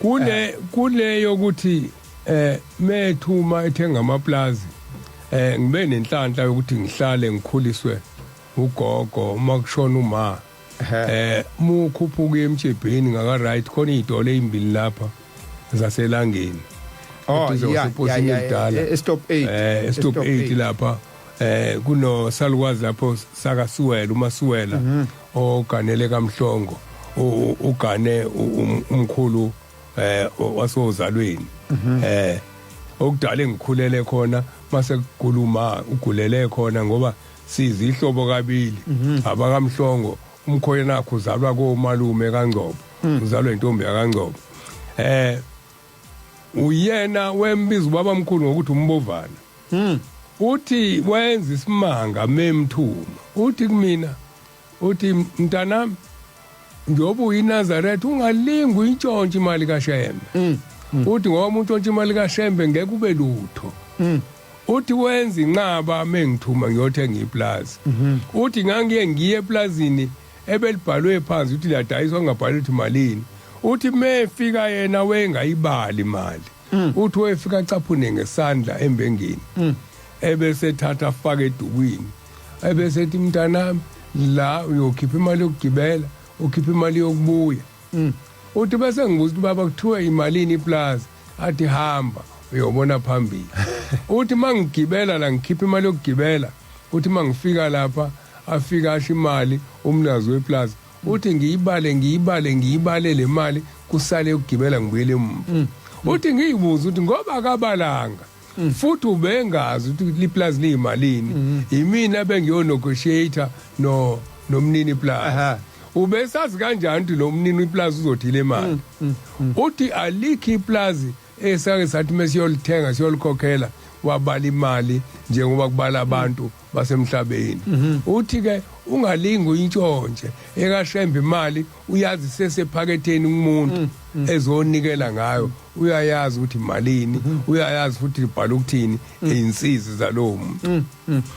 kule eh. kule yokuthi eh methuma ethenga amaplazi eh ngibe nenhlanhla yokuthi ngihlale ngikhuliswe ugogo uma kushona uma eh mukhuphuka emjebheni ngaka right khona idole ezimbili lapha zaselangeni oh yeah yeah yeah stop 8 eh stop 8 lapha eh kuno salukwazi lapho saka Suwela uma Suwela mhm. oganele kaMhlongo ugane um, umkhulu eh wasozalweni mhm. eh okudala engikhulele khona mase kukhuluma ugulele khona ngoba sizihlobo kabili mhm. abakamhlongo umkhoyena wakhe uzalwa komalume kaNgcobo mm. uzalwa intombi yaKaNgcobo eh uyena wembiza ubabamkhulu ngokuthi umbovana mm. uthi wenza isimanga memthuma uthi kumina uthi mntanami njengoba uyinazaretha ungalingi uyintshontshe imali kashembe mm. mm. uthi ngoba umuntu ontshontshe imali kashembe ngeke ube lutho mm. uthi wenza inqaba mengithuma ngiyothenga iplazi mm-hmm. uthi ngangiye ngiye eplazini ebelibhalwe phansi ukuthi liyadayiswa ngabhali ukuthi malini uthi mefika yena wengayibali imali mm. uthi wefika caphune ngesandla embengeni mm. ebese thatha afake edukwini ebese ethi mntanami la uyokhipha imali yokugibela ukhipha imali yokubuya mm. uthi bese ngibuza ukuthi baba kuthiwe imalini iplaza athi hamba uyobona phambili uthi mangigibela la ngikhipha imali yokugibela uthi mangifika lapha afika asho imali umnazi weplaza uthi ngiyibale ngiyibale ngiyibale le mali kusale ukugibela ngibuyele emuva uthi ngiyibuza ukuthi ngoba akabalanga Mm. futhi ubengazi ukuthi liplazi liyimalini mm. yimina bengiyo negotiator no nomnini plazi ubesazi kanjani ukuthi lo mnini iplazi uzothile imali mm, uthi alikho iplazi esake sathi mesiyolithenga siyolikhokhela wabala imali njengoba kubala abantu basemhlabeni mhm. uthi ke ungalingi uyintshontshe ekashembe imali uyazi sesephaketheni kumuntu mm, mm. ezonikela ngayo uyayazi ukuthi malini mm-hmm. uyayazi futhi libhala ukuthini mm. izinsizi zalowo muntu mm,